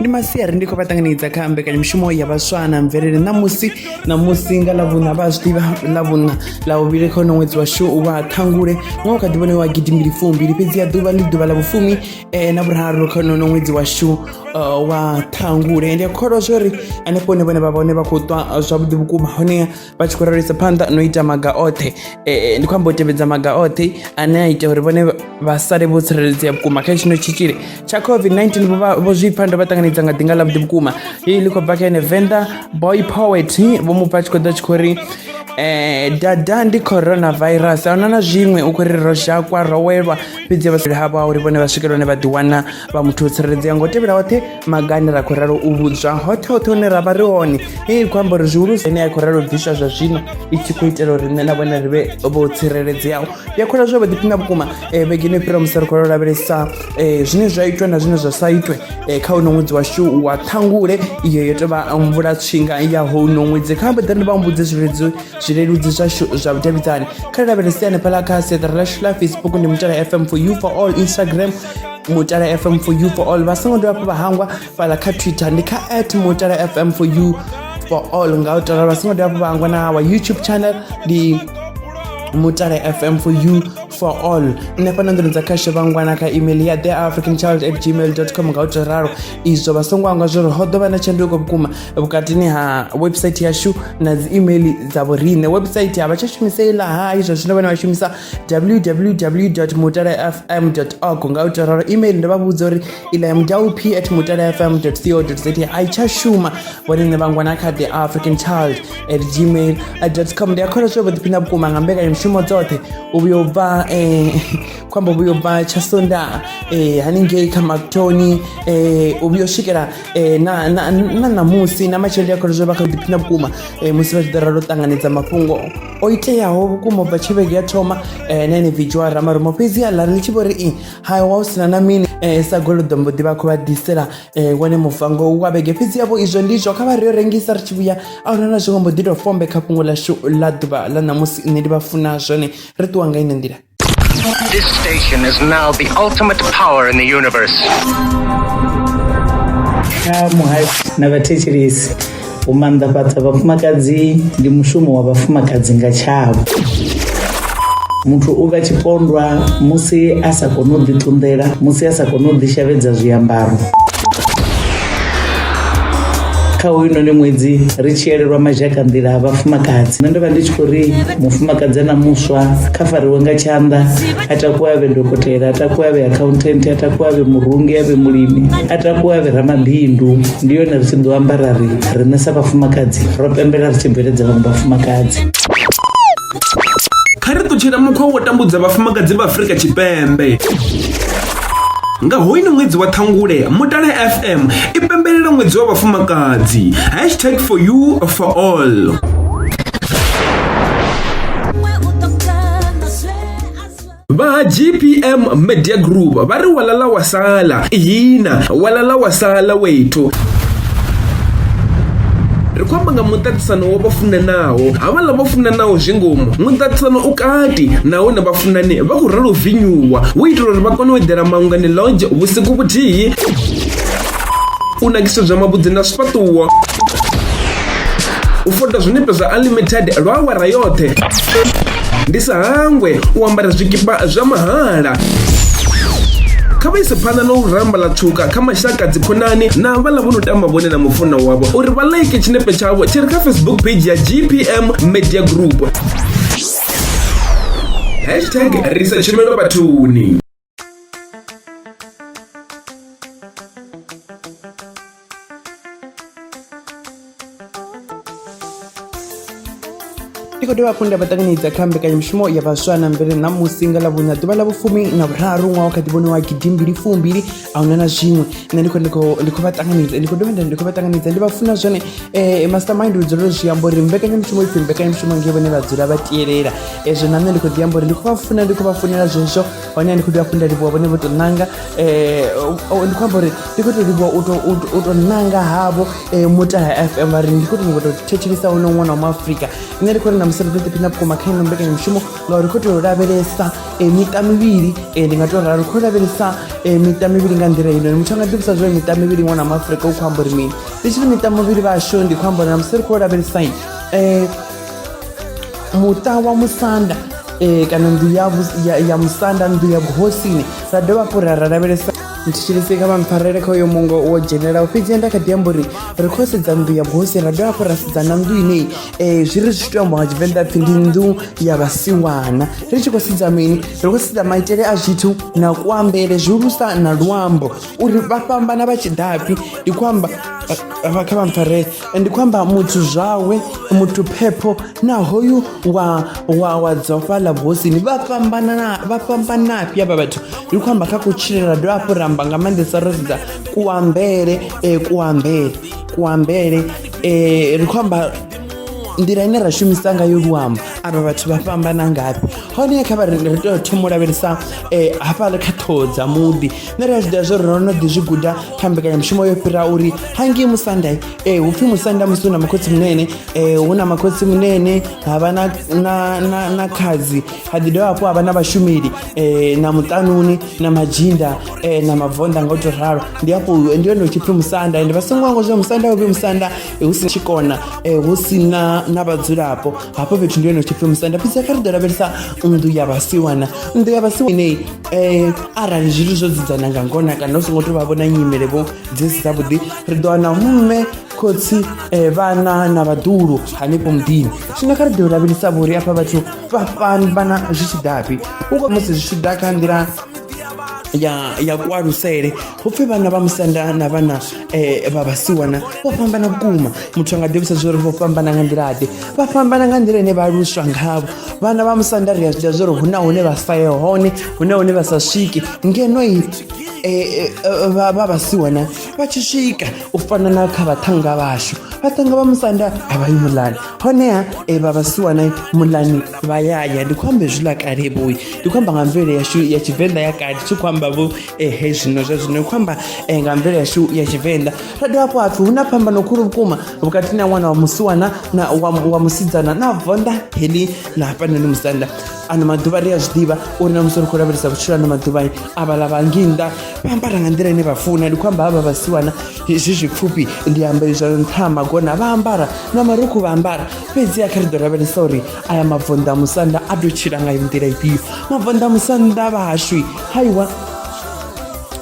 ndi masiari ndi khou vha ṱanganedza kha mbekanyamushumo ya vhaswa na mvelele ṋamusi ṋamusi nga ḽavhuṋa vha zwi ḓivha ḽavhuṋa ḽa uvhili kha uno ṅwedzi washu wa ṱhangule ṅwaha kha ḓivhone wa gidi mbili fumbili fhedzi ya ḓuvha ndi ḓuvha ḽa vhufumi eh, na vhuraru kha uno ṅwedzi washu eh, wa ṱhangule ndi a kholwa zwo ri hanefho hune vhone vha vhone vha khou ṱwa eh, zwavhuḓi vhukuma honeha vha tshi khou ralisa phanḓa no ita maga oṱhe e, e, ndi khou amba u tevhedza maga oṱhe ane a ita uri vhone vha sale vho tsireledzea vhukuma kha tshino tshitzhili tsha covid-19 vho zwi pfha ndo vha ṱanganedza nga ḓinga ḽa vhuḓi vhukuma i ḽi khou bva kha ene venḓa boy poet vho mu pfha tshi khou ḓa tshi khou ri eh dada ndi coronavirus a huna na zwiṅwe u khou ri ro zhakwa ro welwa fhedzi vhasali havho a uri vhone vha swikela hone vha ḓiwana vha muthu u tsireledzea ngo tevhela hoṱhe maga ane ra khou ralo u vhudzwa hoṱhe hoṱhe hune ra vha ri hone i khou amba uri zwihulusa ine ya khou ralo bviswa zwa zwino i tshi khou itela uri nṋe na vhone ri vhe vho tsireledzeaho ndi a khola zwo vha ḓiphina vhukuma eh, vhegeni yo fhira musi ri khou lavhelesa eh, zwine zwa itwe na zwine zwa sa itwe eh, kha uno ṅwedzi washu wa ṱhangule iyo yo tovha mvula tshinga ya houno ṅwedzi kha mbaḓa ndi vha mbudze zwileludzi zwileludzi zwashu zwa vhudavhidzani kha ri lavhelese hanefhala kha siaṱari lashu la facebook ndi mutala fm for you for all instagram mutala fm for you for all vha songo dovha hafhu vha hangwa fhala kha twitter ndi kha at mutala fm for you for all nga u tala vha songo dovha hafhu vha hangwa na wa youtube channel ndi mutala fm for you for all nṋe fhano nḓuni dza khashe vhangwana kha email ya the african child at gmail com nga u to ralo izwo vha songo angwa zwori ho ḓo vha na tshanduko vhukuma vhukatini ha website yashu na dzi email dza vhoriṋe website a vha tsha shumisa iḽa hai zwa zwino vhane vha shumisa www mutalafm org nga u tou ralo email ndo vha vhudza uri iḽa ya mudaup at mutalafm co za a i tsha shuma vhone nṋe vhangwa na kha the african child at gmail com ndi a kholwa zwo vhoḓiphina vhukuma nga mbekanyamushumo dzoṱhe u vhuya u bva um khombo vhuya u bva tsha sonda um haningei kha mactoni um u vhuya u swikela um na ṋamusi na matshelo ndi a kholwa zwo vha kha ḓiphina vhukuma um musi vha tshi ḓo ralo ṱanganedza mafhungo o iteaho vhukuma bva tshi vhege ya thoma eh, na ene vidzhiwa ramarumo fhedzi aḽa ri litshi vho ri i hai wa u sina na mini eh, sa golodo mbo ḓi vha khou vha ḓisela eh, wone muvango wa vhege fhedzi yavho izwo ndi izwo kha vha ri yo rengisa ri tshi vhuya a huna na zwiṅwe mbo ḓi tou fombe kha fhungo ḽashu ḽa ḓuvha ḽa ṋamusi nṋe ndi vha funa zwone ri ṱuwa nga ine nḓila This station is now the ultimate power in the universe. kha muhasho na vhathetshelesi u maanḓafhadza vhafumakadzi ndi mushumo wa vhafumakadzi nga tshavho muthu u vha tshipondwa musi a sa koni u ḓiṱunḓela musi a sa koni u ḓishavhedza zwiambaro kha hoyunoni ṅwedzi ri tshi elelwa mazhaka nḓila a vhafumakadzi nṋe ndo vha ndi tshi khou ri mufumakadzi na muswa kha fariwe nga tshanḓa a takuwe a vhe dokotela a takuwe a vhe accountant a takuwe a vhe murungi a vhe mulimi a takuwe a vhe ramabindu ndi yone ri tshi ḓo ambara ri riṋe sa vhafumakadzi ro pembela ri tshi bveledza vhaṅwe vhafumakadzi kha ri ṱutshela mukhwa wo tambudza vhafumakadzi vha afurika tshipembe nga hoyini ṅwedzi wa ṱhangule mutale fm i pembelela ṅwedzi wa vhafumakadzi hashtag for you for all va gpm media group va ri walala wa sala hina walala wa sala wethu ri khou amba nga muṱaṱisano wa vha funanaho havhaḽa vha funanaho zwi ngomu muṱaṱisano u kati nahone vhafunani vha khou ralo vinyuwa hu itela uri vha kone u eḓela maungani longe vhusiku vhuthihi u nakisedzwa mavhudzi na zwifhaṱuwo u fota zwinepe zwa unlimited lwa awara yoṱhe ndi sa hangwe u ambara zwikipa zwa mahala kha vha ise phanḓa na u ramba ḽa tshuka kha mashaka dzikhonani na vhaḽa vho no tamba vhone na mufunwa wavho uri vha like tshinepe tshavho tshi re kha facebook page ya gpm media group hashtag risa tshumelo vhathuni ndi khou dovha hafhu nda vha ṱanganedza kha mbekanyamushumo ya vhaswa na mvele na musi nga ḽa vhuṋa ḓuvha ḽa vhufumi na vhuraru ṅwaha wa kha ḓivhone wa gidimbili fumbili a huna na zwiṅwe nṋe ndi khou- ndi khou- ndi khou vha ṱanganedza ndi khou dovha nda ndi khou vha ṱanganedza ndi vha funa zwone um mastermind lu dzula zwi amba uri mbekanyamushumo ipfhi mbekanyamushumo nge vhone vha dzula vha tielela ezwo na nṋe ndi khou ḓi amba uri ndi khou vha funa ndi khou vha funela zwezwo hone ndi khou ḓi vha funa livhuwa vhone vho tou nanga um ndi khou amba uri ndi khou tou livhuwa u tou nanga havho um mutala f m vha ri ndi khou tou nyanga tou thetshelisa wono ṅwana wa muafrika nṋe ndi khou ri na musi ri ḓo ḓiphina vhukuma kha ino mbekanyamushumo ngauri khou tou lavhelesa um miṱa mivhili um ndi nga tou ralo khou lavhelesa um miṱa mivhili nga nḓila ino muthu a nga ḓivhusa zwo miṱa mivhili ṅwana wa muafrika u khou amba uri mini ndi tshiri miṱa mivhili vhashu ndi khou amba uri na musi ri khou lavhelesai um muṱa wa musanda um kana nnḓu ya, ya, ya musanda nnḓu ya vhuhosini ra dovha hafhu ra ra lavhelesa ntshilise kha vhampfarele kha uyo mungo wo dzhenelaho fhedzi nda kha ḓi amba uri ri khou sedza nnḓu ya vhuhosi ra dovha hafhu ra sedza na nnḓu inei um eh, zwi ri zwi tea amba nga tshivenḓa pfhi ndi nnḓu ya vhasiwana ri tshi khou sedza mini ri khou sedza maitele a zwithu na kuambele zwihulusa na luambo uri vha fhambana vha tshi dafhi ndi khou amba vha kha vha mpfarele ndi khou amba muthu zwawe muthu phepho na hoyu wa wa wa dzofa ḽa vhosini vha fhambana na vha fhambana fhi avha vhathu ndi khou amba kha kutshilele ra dovha hafhu ramba nga maanḓesa ro sedza kuambele eh, kuambele kuambele eh, ri khou amba nḓila ine ra shumisa ngayo luambo avha vhathu vha fhambana ngafhi hone kha vha ri ri tea u thoma u lavhelesa um hafhaḽa kha ṱhoho dza muḓi nṋe ri a zwi ḓivha zwo ri ro no ḓi zwi guda kha mbekanyamushumo yo fhira uri hangei musanda um eh, hu pfhi musanda musi hu na makhotsi munene um eh, hu na makhotsi munene ha vha na khadzi ha ḓi dovha hafhu ha vha na vhashumeli um na muṱanuni na madzhinda um na mabvonda nga u to ralo ndi afho ndi yone utshi pfhi musanda ende vha songo wango zwa musanda uvhi musanda hu si tshikona um hu si na na vhadzulapo hafho fhethu ndi yone utshi pfhi musanda fhedzi kha ri ḓo lavhelesa nnḓu ya vhasiwana nnḓu ya vhasiwa ineyi um arali zwithu zwo dzudzana nga ngona kana u songo to vha vhona nyimele vho dzi si dzavhuḓi ri ḓo wana mme khotsi um vhana na vhaḓulu hanefho muḓini zwino kha ri ḓo lavhelesa vhori afha vhathu vha fhambana zwi tshi ḓafhi u musi zwi tshi ḓa kha nḓila ya ya kualusele hu pfhi vhana vha musanda na vhana um vha vhasiwana vho fhambana vhukuma muthu a nga ḓivhisa zwo uri vho fhambana nga nḓila-ḓe vha fhambana nga nḓila ine vha aluswa ngavho vhana vha musanda ri a zwi ḓa zwo uri hu na hune vha sa ye hone hu na hune vha sa swiki ngeno i Eh, eh, eh, vha vhasiwana vha tshi swika u fana na kha vhaṱhanga vhashu vhaṱhanga vha musanda a vha yi mulani honeha vha vhasiwana mulani vha yaya ndi khou amba hezwiḽa kale vhoyi ndi khou amba nga mvelele yashu ya tshivenḓa ya kale thi khou amba vho ehe zwino zwa zwino khou amba eh, nga mvelo yashu ya tshivenḓa ra dovha hafho hapfi hu na phambano khulu vhukuma vhukati na ṅwana wa musiwana na wa, wa musidzana na vonda heḽi na hafhanoni musanda ano maḓuvha ri a zwi ḓivha uri na musi ri khou lavhelesa vhutshilo ano maḓuvha avhala vha ngei nnḓa vha ambara nga nḓila ine vha funa ndi khou amba havha vhasiwana zwi zwipfufhi ndi amba izwa nṱha ha magona vha ambara na marukhu vha ambara fhedzi a kha ri ḓo lavhelesa uri aya mavonḓa musanda a tou tshila nga nḓila ifhio mavonḓa musanda vha hashu haiwa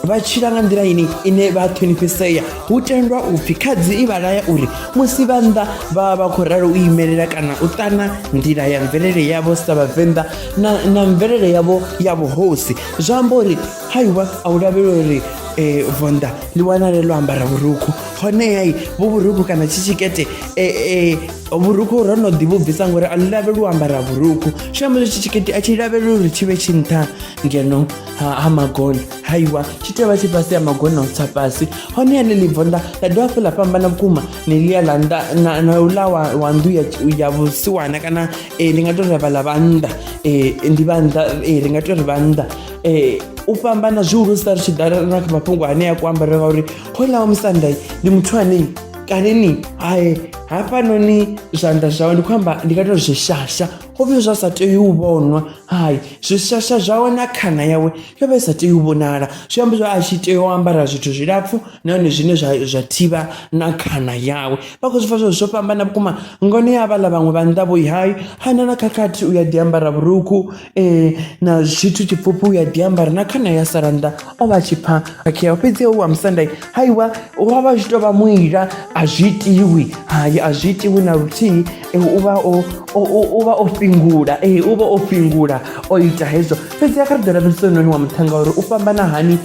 vha tshila nga nḓila ini ine vha ṱhonifhisea hu tendwa u pfhi khadzi i vha laya uri musi vha nnḓa vha vha vha khou ralo u imelela kana u ṱana nḓila ya mvelele yavho sa vhavenḓa na, na mvelele yavho ya vhuhosi zwa amba uri haiwa a u lavhelwa uri eh, vonda ḽi wanale ḽo ambara vhurukhu honeha vho vhurukhu kana tshi tshikete eh, eh, vhurukhu ro no ḓi vhu bvisa ngori a ḽi lavheli u ambara vhurukhu zwi amba zwitshi tshikete a tshi lavheli uri tshi vhe tshi nṱha ngeno ha ha magona haiwa tshi tea vha tshi fhasi ya magona u tsa fhasi hone ane ḽi bvo nnḓa ḽa dovha hafhu ḽa fhambana vhukuma ne ḽia ḽa nnḓa na- na uḽa wa wa nnḓu ya ya vhusiwana kana eh, ndi nga tou ri vha ḽa vha nnḓa eh, ndi vha nnḓa eh, ri nga tou ri vha nnḓa eh, u fhambana zwihulusa ri tshi ḓa na kha mafhungo ane ya kuambarele ngauri hoḽa wa musanda ndi muthu anei kanini hai hafhanoni zwanḓa zwawe ndi khou amba ndi nga to zwishasha ho vhe zwa sa tei u vhonwa hai zwishasha zwawe na khana yawe yo vha i sa tei u vhonala zwi amba zwa a tshi tea u ambara zwithu zwilapfhu nahone zwine zwa zwa thivha na khana yawe vha khou zwi pfa zwo zwo fhambana vhukuma ngone ya vhaḽa vhaṅwe vha nnḓa vhoi hai hana na khakhathi u ya ḓi ambara vhurukhu na tshithu tshipfufhi u a ḓi ambara na khana ya sala nnḓa o vha a tshi pfha khakhea fhedzi hoyu wa musanda haiwa wa vha zwi tou vha muila a zwi itiwi hai a zwi itiwi na luthihi u vha o u vha o fhingula ee u vha o fhingula o ita hezwo fhedzi a kha ri ḓo lavhelesa hoyunoni wa muṱhannga uri u fhambana hani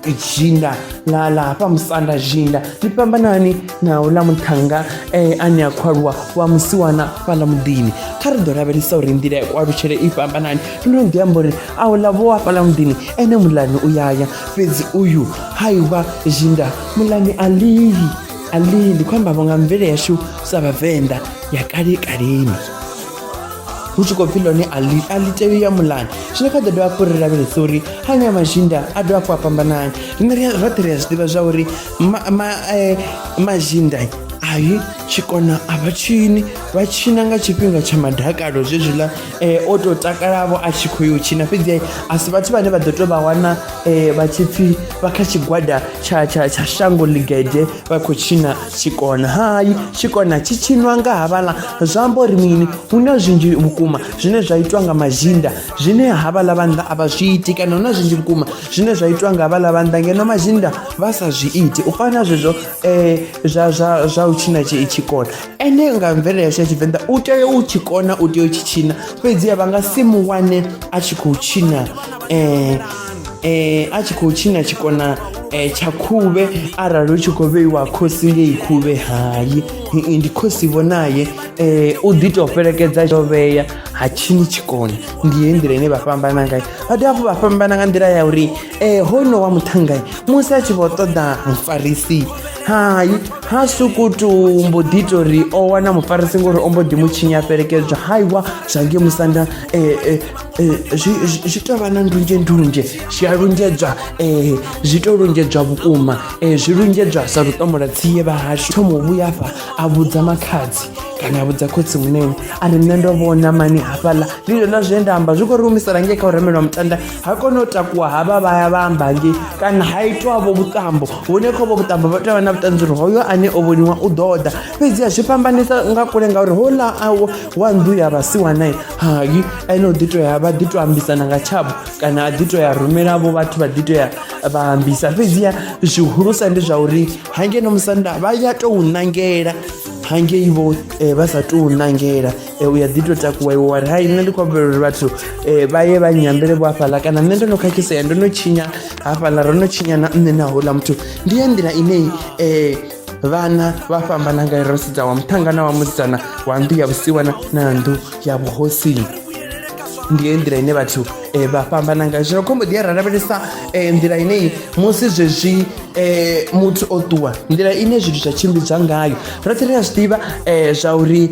dzhinda ḽa ḽa hafha musanda dzhinda ḽi fhambana hani na uḽa muthannga e ane a khou aluwa wa musiwana fhaḽa muḓini kha ri ḓo lavhelesa uri nḓila ya kualutshele i fhambanani ndo ḓi amba uri a uḽa vho wa fhaḽa muḓini ene muḽani u yaya fhedzi uyu ha ivha zhinda muḽani a lili a lili ndi khou ambavho nga mvele yashu sa vhavenḓa ya kale kaleni hu tshi khou pfhi ḽone a ḽi a ḽi tei ya muḽani zwino kha ḓo dovha hafhu ri lavhelesa uri hanya mazhinda a dovha hafhu a fhambanani rine roṱhe ri a zwi ḓivha zwa uri ma, ma, eh, mazinda ayi tshikona a vha tshini vha tshina nga tshifhinga tsha madakalo zwezwiḽa eh, o tou takalavo a tshi khou yo tshina fhedzi eh, a si vhathu vhane vha ḓo tou vha wana eh, vha tshi pfhi vha kha tshigwada tsha, tsha, tsha shango ḽigede vha khou tshina tshikona hayi tshikona tshi tshinwa nga havhaḽa zwa amba uri mini hu na zwinzhi vhukuma zwine zwa itwa nga mazinda zwine havhaḽa vhannḓa a vha zwi iti kana hu na zwinzhi vhukuma zwine zwa itwa nga havhaḽa vhannḓa ngeno mazinda vha sa zwi iti u fana zwezwo um zwa zwa zwa u tshina tshi tshikona ene nga mvelele yashu ya tshivenḓa u tea u tshikona u tea u tshi tshina fhedziha vha nga si mu wane a tshi khou tshina um eh a tshi khou tshina tshikona eh tsha khuvhe arali u tshi khou vheiwa khosi ngei khuvhe hayi ndi khosi vhonaye eh u ḓi tou fhelekedza tsho vhea ha tshini tshikona ndi ye nḓila ine vha fhambana ngayo vha dovha hafhu vha fhambana nga nḓila ya uri ee eh, hono wa muṱhangai musi a tshi vho ṱoḓa mufarisi hai ha sukutu mbo ḓi tou ri o wana mufarisi ngori o mbo ḓi mu tshinya fhelekedzwa haiwa zwa nge musanda eh, eh, zwi tou vha na ndunzhe ndunzhe zwi a lunzhedzwa um zwi tou lunzhedzwa vhukuma um zwi lunzhedzwa sa luṱomola tsiye vha hashu thomo vhuya afha a vhudza makhadzi kana a vhudza khotsi munene a ri nṋe ndo vhona mani hafhaḽa ndi zwona zwine nda amba zwi khou ri humisela ngei kha u remelwa mutanda ha kona u takuwa havha vha ya vha amba ngei kana ha itwavho vhuṱambo hune khovho vhuṱambo vha tea vha na vhuṱanzi uri hoyo ane o vhoniwa u ḓo ḓa fhedzi a zwi fhambanisa nga kule ngauri houḽa awo wa nnḓu ya vhasiwanae hai ene u ḓi to ya vha ḓi to ambisana nga tshavho kana a ḓi to ya rumelavo vhathu vha ḓi to ya vha ambisa fhedziha zwihulusa ndi zwa uri hangeno musanda vha ya tou ṋangela hangei vho eh, vha sa tou ṋangela Eh, u ya ḓi to takuwa iwe wari hai nṋe ndi khou humbela uri vhathu um vha ye vha nyambele vho hafhaḽa kana nṋe ndo no khakhisea ndo no tshinya hafhaḽa ro no tshinya na nṋe na houḽa muthu ndi ya nḓila ine um eh, vhana vha fhambana ngayo ro sedza wa muṱhangana wa musidzana wa nnḓu ya vhusiwana na nnḓu ya vhuhosini ndi ye nḓila ine vhathu um vha fhambana ngayo zwino khombo ḓi ya ra lavhelesa um nḓila inei musi zwezwi um muthu o ṱuwa nḓila ine zwithu zwa tshimbidzwa ngayo roṱhe ri a zwi ḓivha um zwa uri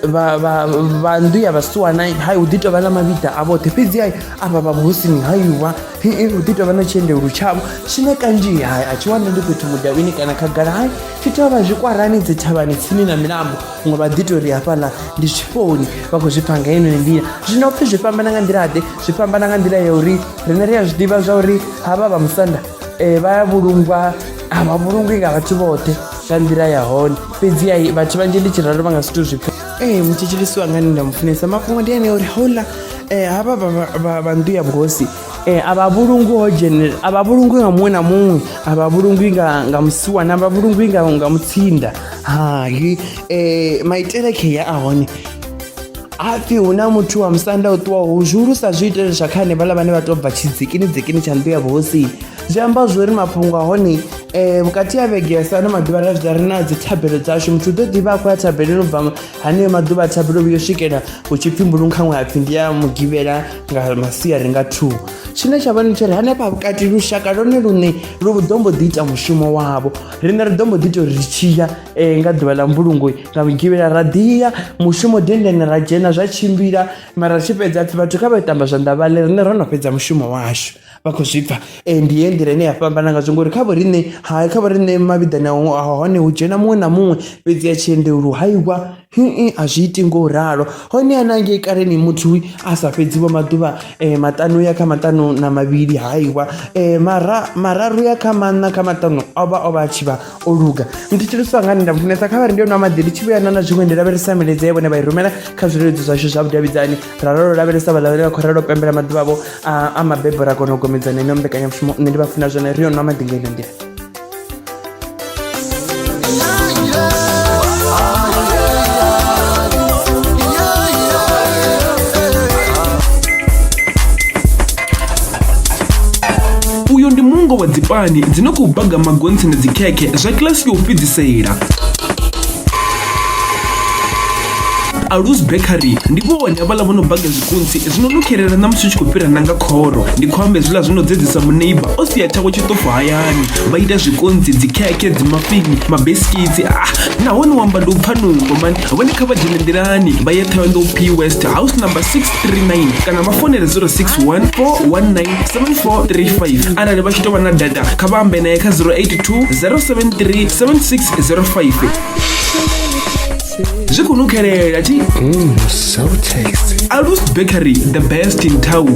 vha vha vha nnḓu ya vhasiwana hai hu ḓi tou vha na mavhiḓa a vhoṱhe fhedzi hai avha vha vhuhosini haiwa hii hu ḓi tou vha na tshiendelu tshavho tshine kanzhi hai a tshi wane ndi fhethu mudavhini kana khagala hai tshi tea vha zwikwarani dzi thavhani tsini na milambo huṅwe vha ḓi tou ri hafhaḽa ndi zwifhoni vha khou zwi pfha nga yeneyo nḓila zwino pfhi zwi fhambana nga nḓila ḓe zwi fhambana nga nḓila ya uri riṋe ri a zwi ḓivha zwa uri havha vha musanda um vha ya vhulungwa a vha vhulungwi nga vhathu vhoṱhe nga nḓila ya hone fhedzi ai vhathu vhanzhi ndi tshi ralo vha nga zwithu zwipfe ee mutshitshilisi wanga ni nda mufunesa mafhungo ndi ane uri houḽa um eh, havha vha nnḓu ya vhuhosi um a vha vhulungwi ho dzhenela a vha vhulungwi nga muṅwe na muṅwe a vha vhulungwi nga musiwana a vha vhulungwi nga mutsinda hai um maitele kheya a hone hapfi hu na muthu wa musanda u ṱuwaho u zwihulusa zwi itele zwa kha hanevhaḽa vhane vha tou bva tshidzikini dzikini tsha nnḓu ya vhuhosini zwi amba zwori mafhungo a hone um vhukati ha vhege ya sano maḓuvha ra zwi ri na dzi thabelo dzashu muthu u ḓo ḓivha a khou ya thabeleni u bva haneyo maḓuvha a thabelo vhuyo swikela hu tshi pfhi mbulungu khaṅwe ha pfhi ndi ya mugivhela nga masia ri nga two tshine tsha vhone tsho ri hanefha vhukati lushaka lone lune lu ḓo mbo ḓi ita mushumo wavho riṋe ri ḓo mbo ḓi ita uri ri tshiya um eh, nga ḓuvha ḽa mbulungo nga mugivhela ra ḓiya mushumo dendene ra dzhena zwa tshimbila mara ri tshi fhedza pfhi vhathu kha vha tamba zwanḓa vhale riṋe ro no fhedza mushumo washu vha khou zwi pfha ndi ye nḓila ine ya fhambana ngazwo ngori kha vho riṋe ha kha vho riṋe mavhiḓani a hone hu dzhena muṅwe na muṅwe fhedzi ya tshiende lu haiwa a zwi iti ngo ralo hone a na ngei kaleni muthu a sa fhedzi vho maḓuvha maṱanu ya kha maṱanu na mavhili haiwa mara mararu ya kha maṋa kha maṱanu o vha o vha a tshi vha o luga ndi tshi luswa ngani nda funesa kha vha ri ndi yo nwa maḓi ndi tshi vhuya na na zwiṅwe ndi lavhelesa milaedza ya vhone vha i rumela kha zwileludzi zwashu zwa vhudavhidzani ra lolo lavhelesa vhaḽa vhane vha khou ralo pembela maḓuvha vho a mabebo ra kona u gomedzana ino mbekanyamushumo nṋe ndi vha funa zwone ri yo nwa maḓi nga ino nḓila uyo ndi mungo wa dzipani dzi no khou baga magontsi na dzikhekhe zwa kilasi ya u fhedzisela alus bakery ndi vhone havhala vho no baga zwikunsi zwino no khelela na musi u tshi khou fhira nanga khoro ndi khou amba hezwiḽa zwi no dzedzisa muneiba o sia tshawe tshiṱofo hayani vha ita zwikonsi dzikhekhe dzimafini mabesikitsi ah nahone wamba ndi u pfa nungo mani vhone kha vha dzhene nḓilani vha ye thohoyandou p west house number 639 kana vha fonele 0614197435 arali vha tshi tou vha na data kha vha ambe naye kha 082 073 7605 zwi khou nukhelela thi Mm, so tasty. alus bakery the best in town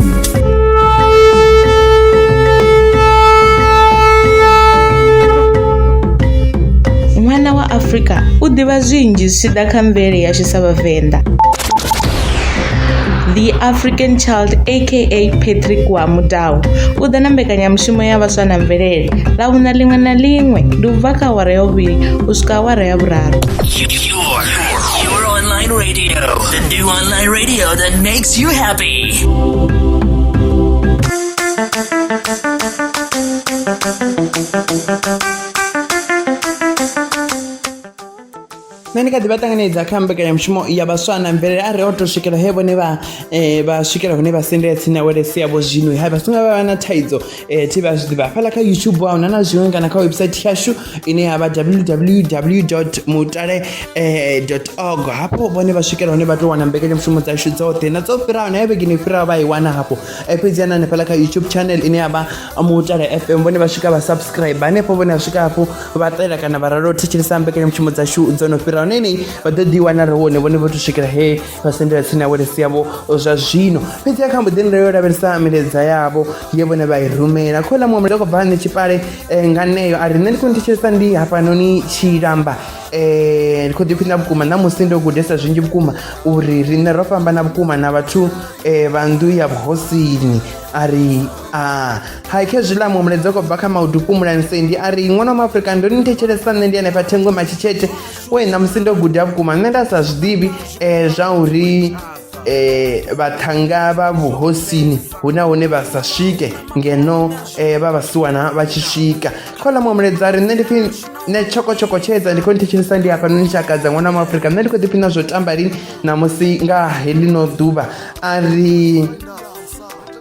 ṅwana wa afrika u ḓivha zwinzhi zwi tshi ḓa kha mvelele yashu sa vhavenḓa the african child aka patrick wa mudau u ḓa na mbekanyamushumo ya vhaswa na mvelele ḽa vhuna ḽiṅwe na ḽiṅwe ndi u bva kha awara ya vhuvhili u swika awara ya vhuraru Your, your online radio. The new online radio that makes you happy. nṋe ndi kha ḓi vha ṱanganedza kha mbekanyamushumo ya vhaswa na mvelele a ri o to swikela he vhone vha um vha swikela hune vha sendela tsini na welesi yavho zwino ha vha songa vha vha na thaidzo e, tv a zwi ḓivha hafhaḽa kha youtube wa huna na zwiṅwe kana kha website yashu ine ya vha www mutale eh, org hafho vhone vha swikela hone vha tou wana mbekanyamushumo dzashu dzoṱhe na dzo fhiraho na ya vhegeni fhiraho vha i wana hafho eh, fhedzi ana hanefhaḽa kha youtube channel ine ya vha mutale fm vhone vha swika vha subscribe hanefho vhone vha swika hafho vha ṱela kana vha ralo thetshelesa mbekanyamushumo dzashu dzo no fhiraho na enei vha ḓo ḓi wana ri wone vhone vho to swikela he vha sendela tsini ya vhulesi yavho zwa zwino fhedzi a kha mbo ḓi nda yo lavhelesa milaedza yavho ye vhone vha i rumela kho ḽa muṅwe muleka khou bva hane tshipale eh, nga neyo a ri nṋe ndi khou nthetshelesa ndi hafhanoni tshilamba um eh, ndi khou ḓiphina vhukuma na musi ndo gudesa zwinzhi vhukuma uri riṋe ro fhambana vhukuma na vhathu um eh, vha nnḓu ya vhuhosini a ri a ah, hai khe zwiḽa muṅwe mulaedza khou bva kha maudupu mulanseni ndi a ri ṅwana wa maafurika ndo ni thetshelesa nṋe ndi hanefha thengwe matshitshete we ṋamusi ndo guda vhukuma nṋe nda sa zwi ḓivhi um zwa uri eh vhathanga vha vhuhosini huna hune vha sa swike ngeno eh vha vhasiwana vha tshi swika khola mwa muledza ri nṋe ndi phi nṋe tshoko tshoko tshedza ndi khou nthetshelesa ndi hafha noni tshakadza ṅwana wa afrika nṋe ndi khou ḓiphina zwo tamba lini ṋamusi nga heḽino ḓuvha a ri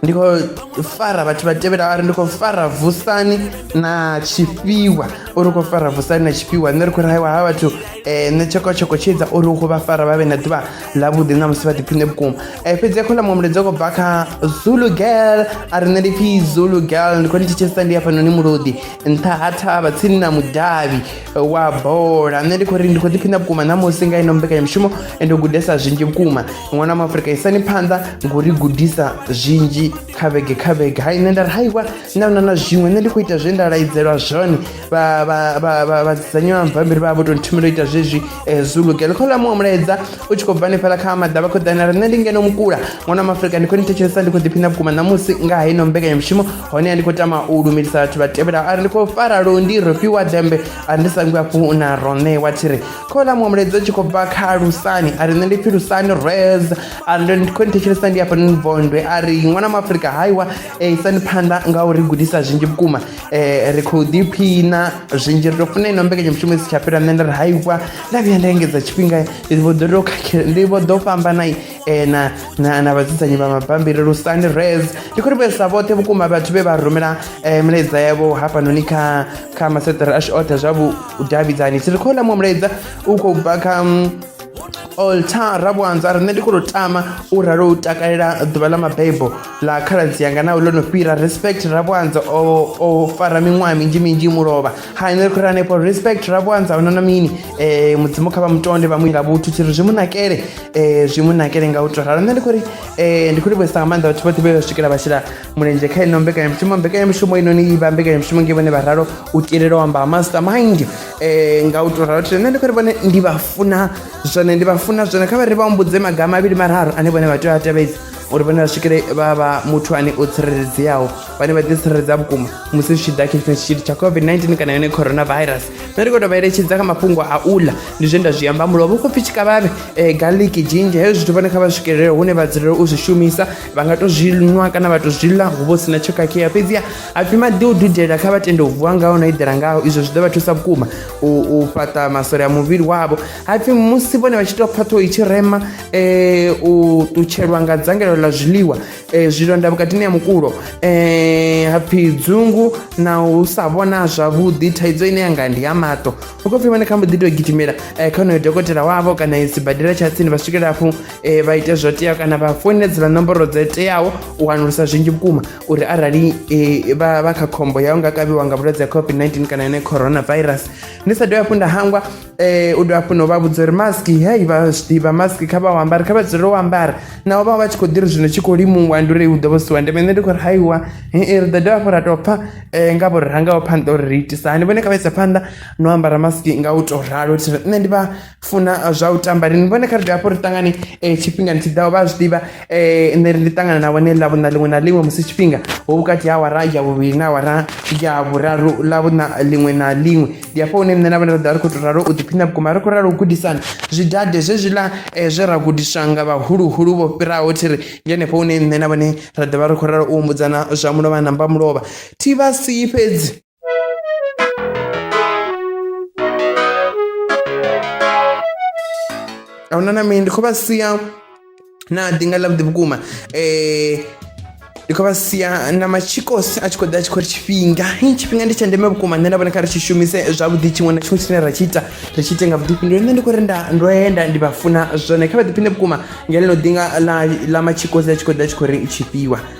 ndi khou fara vhathu vha tevhela ari ndi khou fara vusani na tshifhiwa uri u khou fara vusani na tshifhiwa nṋe ri khou raiwa ha vhathu um eh, nṋe tshekotsheko tshi edza uri u khou vha fara vha vhe na ḓuvha ḽavhuḓi na musi vha ḓiphine vhukuma um eh, fhedzi a khou ḽa muṅwe mulaedza u khou bva kha zulu girl a ri nṋe ndi pfhi zulu girl ndi khou ni thetshelesa ndi hafhanoni mulodi nṱha ha thavha tsini na mudavhi eh, wa bola nṋe ndi khou ri ndi khou ḓiphina vhukuma na musi nga ino mbekanyamushumo ende u gudesa zwinzhi vhukuma ṅwana wa afrika isani phanḓa ngo ri gudisa zwinzhi kha vhege kha vhege hai nṋe nda ri haiwa na na na zwiṅwe nṋe ndi khou ita zwe nda laidzelwa zwone vhadzisanywa mabambiri vha vho to nthumela u ita zwezwi eh, zulugelo kha ḽa muṅwe mulaedza u tshi khou bva hanefhala kha maḓa vha khou ḓana ri nṋe ndi ngeno mukula ṅwana wa maafrika ndi khou ni thetshelesa ndi khou ḓiphina vhukuma ṋamusi nga ha ino mbekanyamushumo hone a ndi khou tama u lumelisa vhathu vha tevhelaho ari ndi khou fara londi ro fhiwa dembe ari ndi sangwi hafhu na roṋe wa thiri khola muṅwe mulaedza u tshi khou bva kha lusani a ri nṋe ndi pfhi lusani res a ri ndi khou ni thetshelesa ndi hafhanoni bondwe a ri ṅwana mu afurika haiwa eh, isani phanḓa nga uri gudisa zwinzhi vhukuma eh, ri khou ḓiphina zwinzhi ri tou funa ino mbekanyamushumo isi tsha fhira nṋe nda ri haiwa nda vhuya nda engedza tshifhinga ndi vho ḓo tou khakhela ndi vho ḓo fhambanai e na na na vhadzudzanyi vha mabambiri lusani res ndi khou livhuesa vhoṱhe vhukuma vhathu vhe vha rumela um mulaedza yavho hafhanoni kha kha maseṱere ashu oṱhe zwa vhudavhidzani tshi ri khou ḽa muṅwe mulaedza u khou bva kha mm, oltar rabwanza riṋe ndi khou tama u ralo u takalela ḓuvha ḽa mabebo ḽa khaladzi yanga naho ḽo no fhira respect rabwanza o fara miṅwaha minzhi minzhi mulovha hai nṋe ri khou ri hanefho respect rabwanza o nona mini um mudzimu kha vha mutonde vha muila vhuthu tshi ri zwi mu nakele um zwi mu nakele nga u to ralo nṋe ndi khou ri um ndi khou livhuesa nga maanḓa vhathu vhoṱhe vhe vha swikela vha shela mulenzhe kha ino mbekanyamushumo mbekanyamushumo inoni i vha mbekanyamushumo nge vhone vha ralo u tilela u amba ha master mind um nga u to ralo tshile nṋe ndi khou ri vhone ndi vha funa zwone ndi vha funa zwone kha vha ri vha humbudze maga mavhili mararu ane vhone vha tea u a tevhedza uri vhone vha swikele vha vha muthu ane o tsireledzeaho vhane vha ḓitsireledza vhukuma musi zwi tshi ḓa khethini tshitshili tsha covid-19 kana yone coronavirus nṋe ndi khou tovha eletshedza kha mafhungo a u ḽa ndi zwe nda zwi amba mulo vho khou pfi tshikavhavhe um garlic jinja hezwo zwithu vhone kha vha swikelele hune vha dzulela u zwi shumisa vha nga to zwi nwa kana vha to zwi ḽa hu vha u sina tsho khakhea fhedziha hapfi maḓi o dudela kha vha tende u vuwa ngaho na eḓela ngaho izwo zwi ḓo vha thusa vhukuma u fhaṱa masole a muvhili wavho hapfi musi vhone vha tshi tou pfa ṱhoho i tshi rema um u ṱutshelwa nga dzangalelo ḽa zwiḽiwa e, zwilonda vhukatini ha mukulo e, hapfi dzungu na u sa vhona zwavhuḓi thaidzo ine yanga ndi ya maṱo u khou pfhi vhone kha mbo ḓi tou gidimela e, kha honoyo dokotela wavho kana sibadela tsha tsini vha swikela hafhu e, vha ite zwo teaho kana vha founedzela nomboro dzo teaho u wanulusa zwinzhi vhukuma uri arali e, vha, vha kha khombo yau nga kavhiwa nga vhulwadze ha covid-19 kana yone coronavirus ndi sa dovha hafhu nda hangwa Eh, u dovha hafhu no vha vhudza uri mask hei vha zwi ḓivha mask kha vha u ambare kha vha dzulele u ambara naho vha vha tshi khou ḓi ri zwino tshi khou limuwa ndi uri hu ḓo vha siwa ndeme nṋe ndi khou ri haiwa hei ri ḓo dovha hafhu ra tou pfha um nga vho ri rangaho phanḓa uri ri itisa hani vhone kha vha isa phanḓa no ambara mask nga u tou ralo thi ri nṋe ndi vha funa eh, zwa u tamba lini vhone kha ri dovha hafhu ri ṱangane um tshifhingani tshi ḓaho vha zwi ḓivha um nṋe ri ndi ṱangana na vhone ḽavhuṋa ḽiṅwe na ḽiṅwe musi tshifhinga ho vhukati ha awara ya vhuvhili na awara ya vhuraru ḽavhuṋa ḽiṅwe na ḽiṅwe ndi hafho hune nṋe na vhana vha ḓovha ri khou tou ralo u ḓiphina vhukuma ri khou ralo u gudisana zwidade zwezwiḽa eh, zwe ra gudiswa nga vhahuluhulu vho fhiraho thi ri ndi henefho hune nṋe na vhone ra ḓovha ri khou ralo u humbudzana zwa mulovha na mba mulovha thi vha sii fhedzi ahuna na mini ndi khou vha sia na ḓi nga ḽa vhuḓi vhukuma um ndi khou vha sia na machikos a tshi khou ḓa a tshi khou ri tshifhinga tshifhinga ndi tsha ndeme vhukuma nṋe nda vhona kha ri tshi shumise zwavhuḓi tshiṅwe na tshiṅwe tshine ra tshi ita ri tshi ite nga vhuḓifhinduli nṋe ndi khou ri nda ndo enda ndi vha funa zwone kha vha ḓiphine vhukuma nga ḽino ḓinga ḽa ḽa machikos a tshi khou ḓa a tshi khou ri tshifhiwa